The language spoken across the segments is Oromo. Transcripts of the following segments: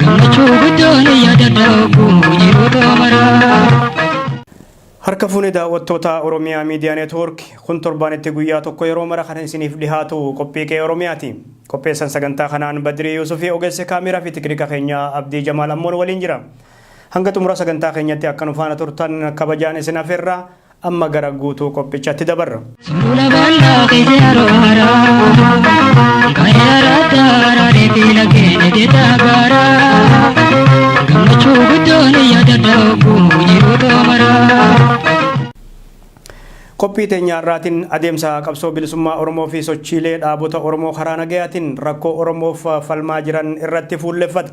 Gammachuu guddoon yaadadha obboo yeroo xoomaraa. Harka fuune daawwattoota Oromiyaa Miidiyaa Neetwoork kun torbaanitti guyyaa tokko yeroo mara kan isiniif dhihaatu qophii qe'ee Oromiyaati. Qopheessan sagantaa kanaan Badirii Yuusufii ogeessi kaameeraa fi tiknika keenya Abdii Jamaal Ammoon waliin jira. Hanga xumura sagantaa keenyatti akka nu faana turtan kabajaan isin afeerra Amma gara guutuu qophichatti dabarra. Suula bal'aa keessa yeroo haaraa Kan yaraa daaraa deebii lageenya jedhaa gaaraa Gammachuu guddoon yaada daakuu yeroo toomaraa Qophii teenya irraatiin adeemsa qabsoo bilisummaa Oromoo fi sochiilee dhaabota Oromoo karaa nagayaatiin rakkoo Oromoof falmaa jiran irratti fuulleffata.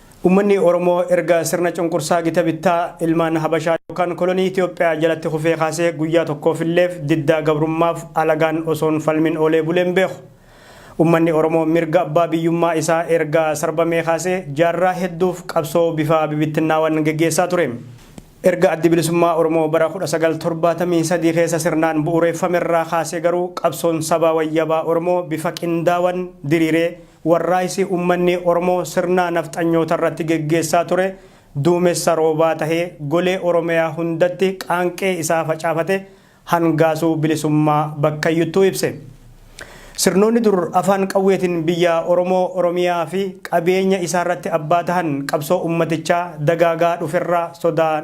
Ummanni Oromoo erga sirna cunqursaa gita bittaa ilmaan Habashaa yookaan kolonii Itoophiyaa jalatti kufee kaasee guyyaa tokkoofilleef diddaa gabrummaaf alagaan osoon falmin oolee bulee hin beeku. Ummanni Oromoo mirga abbaa biyyummaa isaa erga sarbamee kaasee jaarraa hedduuf qabsoo bifa bibittinnaawan geggeessaa ture. Erga Addi Bilisummaa Oromoo bara 1973 keessa sirnaan bu'ureeffamerraa kaasee garuu qabsoon sabaa wayyabaa Oromoo bifa qindaawan diriiree, Warraaysi ummanni Oromoo sirnaa nafxanyoota irratti geggeessaa ture duumessa roobaa tahee golee Oromiyaa hundatti qaanqee isaa facaafate hangaasuu bilisummaa bakkayyuttuu ibse. Sirnoonni dur afaan qawweetin biyyaa Oromoo, Oromiyaa fi qabeenya isaarratti abbaa tahan qabsoo ummatichaa dagaagaa dhuferraa sodaa.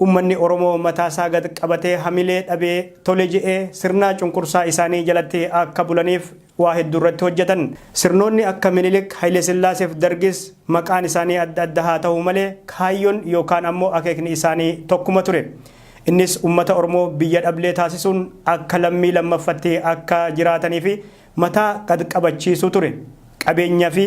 Ummanni Oromoo mataa isaa gad qabatee hamilee dhabee tole je'ee sirnaa cunqursaa isaanii jalatti akka bulaniif waa heddu irratti hojjatan. Sirnoonni akka Minilik, Hayilesillaasee fi Dargis maqaan isaanii adda adda haa tahu malee kaayyon yookaan ammoo akeekni isaanii tokkuma ture. Innis ummata Oromoo biyya dhablee taasisuun akka lammii lammaffatti akka jiraatanii fi mataa gad qabachiisuu ture. Qabeenya fi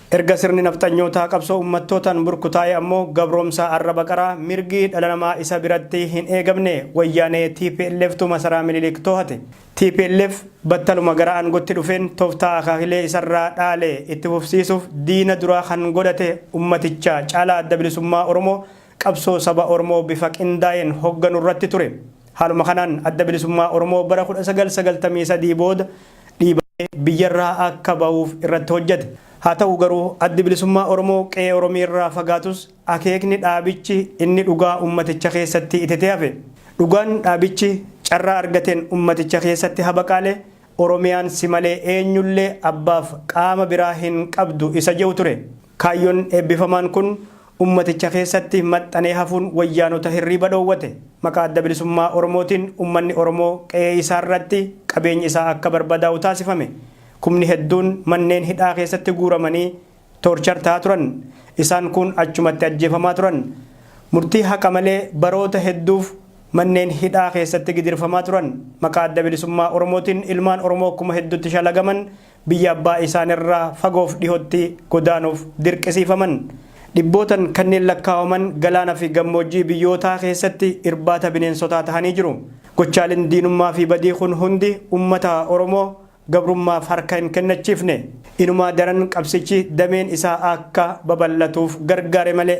Erga sirni nafxanyootaa qabsoo ummattootaan burkutaa'ee ammoo gabroomsaa arraba qaraa mirgi dhala namaa isa biratti hin eegamne wayyaanee tplf tu masaraa Minilik toohate. Tplf battaluma gara aangotti dhufeen toftaa akaakilee isarraa dhaale itti fufsiisuuf diina duraa kan godhate ummaticha caalaa Adda Bilisummaa Oromoo qabsoo saba Oromoo bifa qindaa'een hogganu irratti ture. Haaluma kanaan Adda Bilisummaa Oromoo bara 1993 booda dhiibamee biyyarraa akka ba'uuf irratti hojjete. Haa ta'u garuu Addi Bilisummaa Oromoo qe'ee Oromiirraa fagaatus akeekni dhaabichi inni dhugaa ummaticha keessatti itetee hafe. Dhugaan dhaabichi carraa argateen ummaticha keessatti habaqaale Oromiyaan si malee eenyullee abbaaf qaama biraa hin qabdu isa je'u ture. Kaayyoon eebbifamaan kun Ummaticha keessatti maxxanee hafuun wayyaanota hirriiba dhoowwate. Maqaa Adda Bilisummaa Oromootiin ummanni Oromoo qe'ee isaa irratti qabeenyi isaa akka barbadaa'u taasifame. Kumni hedduun manneen hidhaa keessatti guuramanii torture tahaa turan. Isaan kuun achumatti ajjeefamaa turan. Murtii haqa malee baroota hedduuf manneen hidhaa keessatti gidirfamaa turan. Maqaa Adda Bilisummaa Oromootiin ilmaan Oromoo kuma heddutti shalagaman, biyya abbaa isaan irraa fagoof dhihotti godaanuuf dirqisiifaman. Dhibbootan kanneen lakkaawaman galaana fi gammoojjii biyyootaa keessatti irbaata bineensotaa tahanii jiru. Gochaaleen diinummaa fi badii kun hundi ummata Oromoo gabrummaaf harka hin kennachiifne. Inumaa daran qabsichi dameen isaa akka babal'atuuf gargaare malee.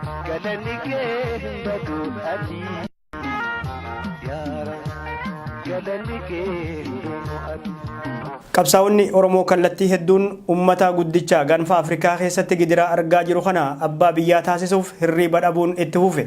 Galanni kee hin badu ati yaara galanni kee hin dhumu ati. Qabsaa'onni Oromoo kallattii hedduun ummata guddicha gaanfa Afrikaa keessatti gidiraa argaa jiru kana abbaa biyyaa taasisuuf hirriiba dhabuun itti fufe.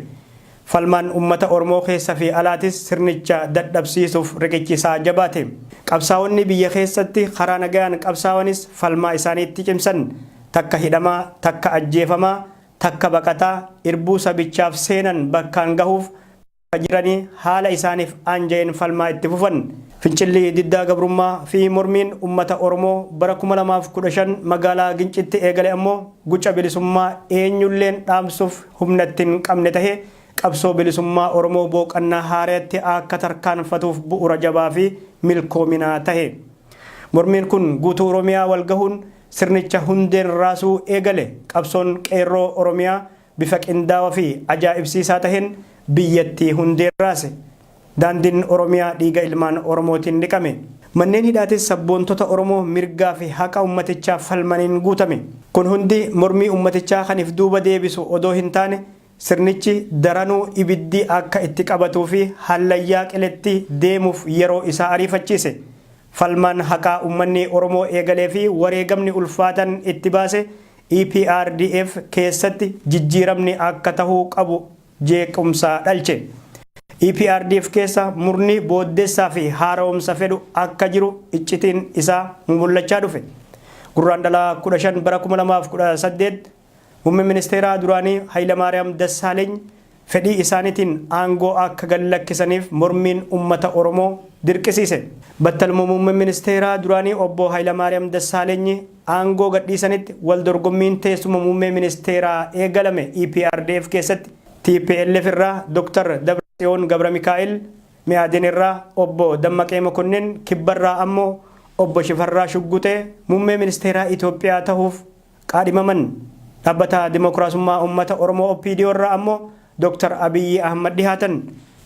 Falmaan ummata Oromoo keessa fi alaatis sirnicha dadhabsiisuuf riqichi isaa jabaate. Qabsaa'onni biyya keessatti karaa nagayaan qabsaawanis falmaa isaanii itti cimsan. Takka hidhamaa, takka ajjeefamaa, takka baqataa irbuu sabichaaf seenan bakkaan gahuuf bakka jiranii haala isaaniif aanja'een falmaa itti fufan. Fincilli diddaa gabrummaa fi mormiin ummata Oromoo bara 2015 magaalaa Gincitti eegale ammoo guca bilisummaa eenyulleen dhaamsuuf humna itti hin qabne tahee qabsoo bilisummaa Oromoo booqannaa haarayatti akka tarkaanfatuuf bu'ura jabaa fi milkoominaa tahe. Mormiin kun guutuu Oromiyaa wal gahuun Sirnicha hundeen raasuu eegale. Qabsoon Qeerroo Oromiyaa bifa qindaawa fi ajaa'ibsiisaa taheen biyyattii hundeen raase. Daandin Oromiyaa dhiiga ilmaan Oromootiin dhiqame. Manneen hidhaatis sabboontota Oromoo mirgaa fi haqa ummatichaaf falmaniin guutame. Kun hundi mormii ummatichaa kan if duuba deebisu odoo hin taane, Sirnichi daranuu ibiddi akka itti qabatuufi hallayyaa qiletti deemuuf yeroo isaa ariifachiise. Falmaan haqaa ummanni Oromoo eegaleefi wareegamni ulfaatan itti baase EPRDF keessatti jijjiiramni akka tahuu qabu jeequmsa dhalche. EPRDF keessa murni booddessaafi haara'umsa fedhu akka jiru iccitiin isaa mumullachaa dhufe. Gurraandhala 15 bara 2018. Muummeen Ministeeraa duraanii Hayilamaariyaam Dassaaleny fedhii isaaniitiin aangoo akka gad lakkisaniif mormiin uummata Oromoo dirqisiise. Battaluma Muummeen Ministeeraa duraanii Obbo Hayilamaariyaam Dassaalenyi aangoo gadhiisanitti wal dorgommiin teessuma Muummee Ministeeraa eegalame EPRDF keessatti tplf irraa Dr. Dabratsiyoon Gabramikaa'el, Me'aden irraa Obbo Dammaqee Mokonnin, Kibbarraa ammoo Obbo Shifarraa Shugguxee Muummee Ministeeraa Itoophiyaa tahuuf Kaadhimaman Dhabbata Dimokraasummaa Ummata Oromoo OPDO irraa ammoo Dr. Abiyyi Ahmad dhihaatan.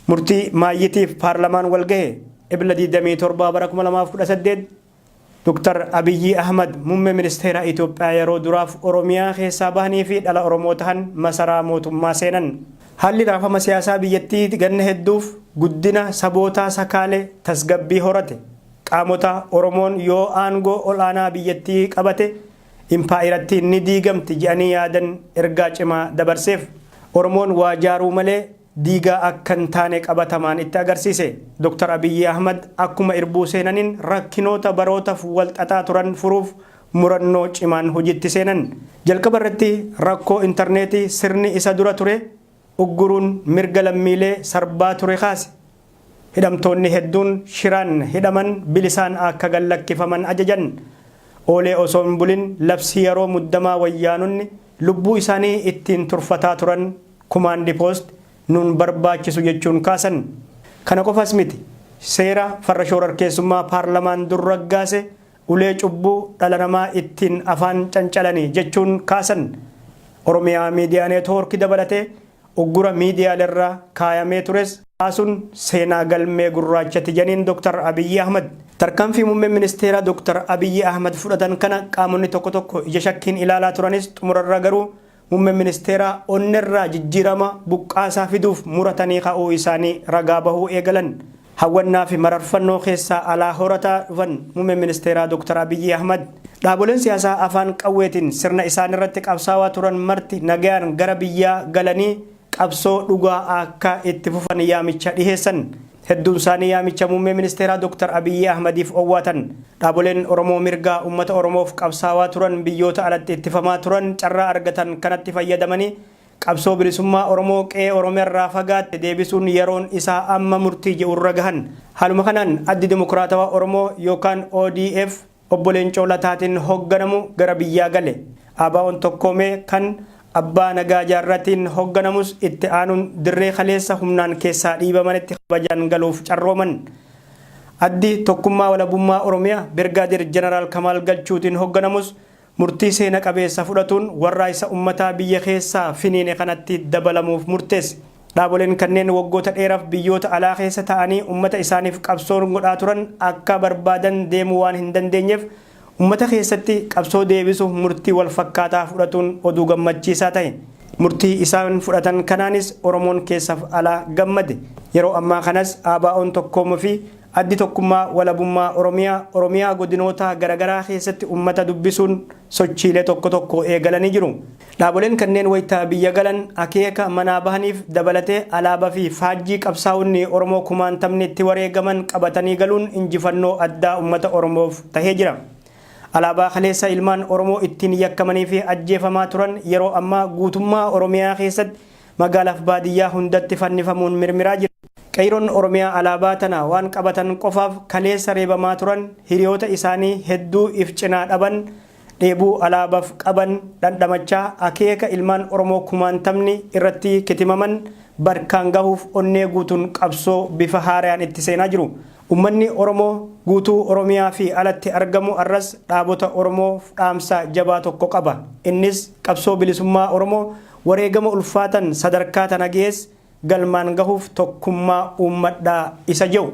Murtii maayyitiif paarlamaan walgahe. Ebla 27 bara 2018 Dr. Abiyyi Ahmad Mummee Ministeera Itoophiyaa yaroo duraaf Oromiyaa keessaa bahanii fi dhala Oromoo tahan masaraa mootummaa seenan. Haalli raafama siyaasaa biyyattii ganna hedduuf guddina sabootaa sakaale tasgabbii horate. Qaamota Oromoon yoo aangoo ol'aanaa biyyattii qabate impaayerattiin ni diigamti jedhanii yaadan ergaa cimaa dabarseef. Oromoon waa jaaruu malee diigaa akka hin taane qabatamaan itti agarsiise. Dr. Abiyyi Ahmad akkuma irbuu seenaniin rakkinoota barootaf wal xaxaa turan furuuf murannoo cimaan hojiitti seenan. Jalqaba irratti rakkoo interneetii sirni isa dura ture ugguruun mirga lammiilee sarbaa ture kaase. Hidhamtoonni hedduun shiraan hidhaman bilisaan akka gad lakkifaman ajajan. Oolee osoo hin bulin labsii yaroo muddamaa wayyaanonni lubbuu isaanii ittiin turfataa turan kumaandi poost nuun barbaachisu jechuun kaasan. Kana qofas miti seera farra shoorarkeessummaa paarlamaan dur raggaase ulee cubbuu dhala namaa ittiin afaan cancalani jechuun kaasan. Oromiyaa Miidiyaa Neetwoorki dabalatee uggura miidiyaalerra kaayamee tures kaasuun seenaa galmee gurraachati janiin Dr. Abiyyi Ahmad. Tarkaanfii Muummeen Ministeeraa Dr. Abiyyi Ahmad fudhatan kana qaamonni tokko tokko ija shakkiin ilaalaa turanis xumurarra garuu Muummeen Ministeeraa onnerraa jijjiirama buqqaasaa fiduuf muratanii ka'uu isaanii ragaa bahuu eegalan. Hawwannaafi mararfannoo keessaa alaa horataa dhufan Muummeen Ministeeraa Doktar Abiyyi Ahmad. Dhaaboleen siyaasaa afaan qawweetiin sirna isaanirratti qabsaawaa turan marti nagayaan gara biyyaa galanii qabsoo dhugaa akka itti fufan yaamicha dhiheessan. Hedduun isaanii yaamicha Muummee Ministeeraa Dr. Abiyyi Ahmadiif owwaatan. Dhaaboleen Oromoo mirgaa ummata Oromoof qabsaawaa turan biyyoota alatti ittifamaa turan carraa argatan kanatti fayyadamanii qabsoo bilisummaa Oromoo qe'ee Oromiyarraa fagaatte deebisuun yeroon isaa amma murtii je'urra gahan. Haaluma kanaan Addi Dimokiraatawaa Oromoo yookaan odf, Obbo Leencoo Lataatiin hogganamu gara biyyaa gale. ABOn tokkoome kan Abbaa Nagaa Jaarratiin hogganamus itti aanuun dirree kaleessa humnaan keessaa dhiibamanitti kabajaan galuuf carrooman. Addi Tokkummaa Walabummaa Oromiyaa Birgaadeer Janaraal Kamaal Galchuutiin hogganamus murtii seena qabeessa fudhatuun warraaysa ummataa biyya keessaa finiine kanatti dabalamuuf murteesse. Dhaaboleen kanneen waggoota dheeraf biyyoota alaa keessa ta'anii ummata isaaniif qabsoon godhaa turan akka barbaadan deemuu waan hin dandeenyeef ummata keessatti qabsoo deebisuuf murtii wal fakkaataa fudhatuun oduu gammachiisaa tahe. Murtii isaan fudhatan kanaanis Oromoon keessaf alaa gammade. Yeroo ammaa kanas ABOn tokkoomu fi Addi Tokkummaa Walabummaa Oromiyaa Oromiyaa godinootaa garagaraa keessatti ummata dubbisuun sochiilee tokko tokko eegalanii jiru. Dhaaboleen kanneen wayita biyya galan akeeka manaa bahaniif dabalatee alaabaa fi faajjii qabsaa'onni Oromoo kumaantamni itti wareegaman qabatanii galuun injifannoo addaa ummata Oromoof tahee jira. Alaabaa kaleessa ilmaan Oromoo ittiin yakkamanii fi ajjeefamaa turan yeroo ammaa guutummaa Oromiyaa keessatti Magaalaaf baadiyyaa hundatti fannifamuun mirmiraa jiru. Qeeyroon Oromiyaa Alaabaa tana waan qabatan qofaaf kaleessa reebamaa turan hiriyoota isaanii hedduu if cinaa dhaban dheebuu Alaabaf qaban dhandhamachaa akeeka ilmaan Oromoo kumaantamni irratti kitimaman barkaan gahuuf onnee guutun qabsoo bifa haarayaan itti seenaa jiru. Ummanni Oromoo guutuu Oromiyaa fi alatti argamu arras dhaabota Oromoof dhaamsa jabaa tokko qaba. Innis qabsoo bilisummaa Oromoo wareegama ulfaatan sadarkaa tana gees galmaan gahuuf tokkummaa uummadhaa isa jehu.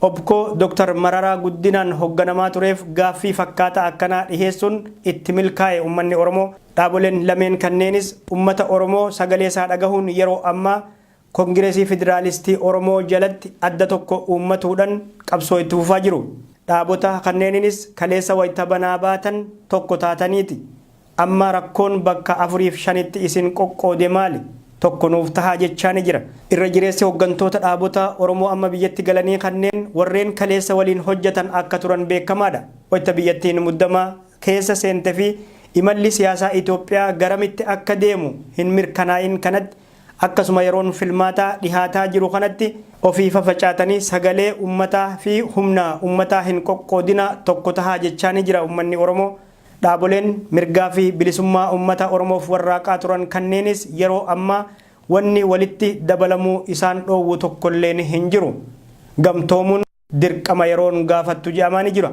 Opco Dr. Mararaa Guddinaan hogganamaa tureef gaaffii fakkaataa akkanaa dhiheessuun itti milkaa'e ummanni Oromoo. Dhaaboleen lameen kanneenis ummata Oromoo sagaleesaa dhagahuun yeroo ammaa Kongiresii Fidiraalistii Oromoo jalatti adda tokko uummatuudhan qabsoo itti fufaa jiru. Dhaabota kanneeninis kaleessa wayita banaa baatan tokko taataniiti. Amma rakkoon bakka afuriif shanitti isin qoqqoode maali? Tokko nuuf tahaa jechaa ni jira. Irra jireessi hoggantoota dhaabota Oromoo amma biyyatti galanii kanneen warreen kaleessa waliin hojjatan akka turan beekamaadha. Wayta biyyattiin muddama keessa seente fi imalli siyaasaa Itoophiyaa garamitti akka deemu hin mirkanaa'iin kanatti akkasuma yeroon filmaataa dhihaataa jiru kanatti ofii fafacaatanii sagalee ummataa fi humna ummataa hin qoqqoodinaa tokko tahaa jechaa ni jira ummanni Oromoo. Dhaaboleen mirgaa fi bilisummaa ummata Oromoof warraaqaa turan kanneenis yeroo ammaa wanni walitti dabalamuu isaan dhoowwu tokkolleen hin jiru. Gamtoomuun dirqama yeroon gaafattu je'amaani jira.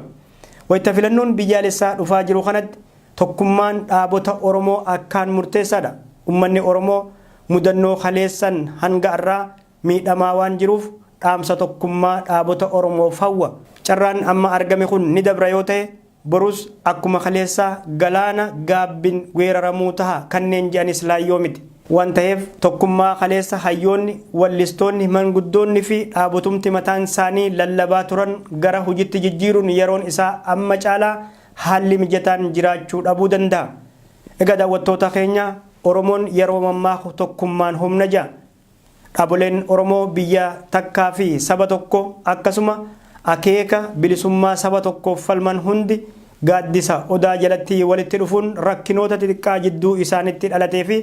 Wayta filannoon biyyaalessaa dhufaa jiru kanatti tokkummaan dhaabota Oromoo akkaan murteessaadha. Ummanni Oromoo mudannoo kaleessan hanga arraa miidhamaa waan jiruuf dhaamsa tokkummaa dhaabota Oromoof hawwa. Carraan amma argame kun ni dabra yoo ta'e, borus akkuma kaleessaa galaana gaabbin weeraramuu taha kanneen je'anis laayyoo miti. Waan taheef tokkummaa kaleessa hayyoonni, wallistoonni, manguddoonni fi dhaabotumti mataan saanii lallabaa turan gara hujitti jijjiiruun yeroon isaa amma caalaa haalli mijataan jiraachuu dhabuu dandaha. Egaa daawwattoota keenya, Oromoon yeroo mammaaku tokkummaan humna ja'a. Dhaboleen Oromoo biyya takkaa fi saba tokko akkasuma akeeka bilisummaa saba tokkoof falman hundi gaaddisa Odaa jalatti walitti dhufuun rakkinoota xixiqqaa jidduu isaanitti dhalatee fi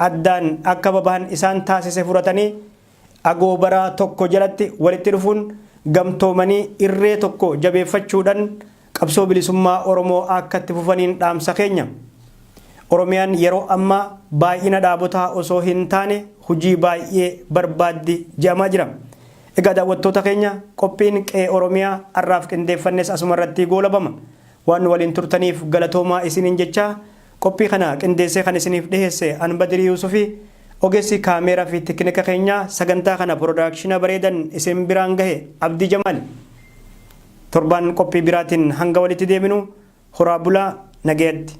addaan akka babahan isaan taasise furatanii agoobara tokko jalatti walitti dhufuun gamtoomanii irree tokko jabeeffachuudhan Qabsoo bilisummaa Oromoo akka itti fufaniin dhaamsa keenya. Oromiyaan yeroo ammaa baay'ina dhaabotaa osoo hin taane hujii baay'ee barbaaddi je'amaa jira. Egaa daawwattoota keenya qophiin Qe'ee Oromiyaa ar'aaf qindeeffannes asuma irratti goolabama. Waan nu waliin turtaniif galatoomaa isiniin jechaa qophii kana qindeessee kan isiniif dhiheesse an Badirii Yuusufi ogeessi kaameeraa fi tekinika keenyaa sagantaa kana pirodaakshina bareedan isin biraan gahe Abdii Jamaali. Torbaan qophii biraatiin hanga walitti deebinu horaa bulaa nagayatti.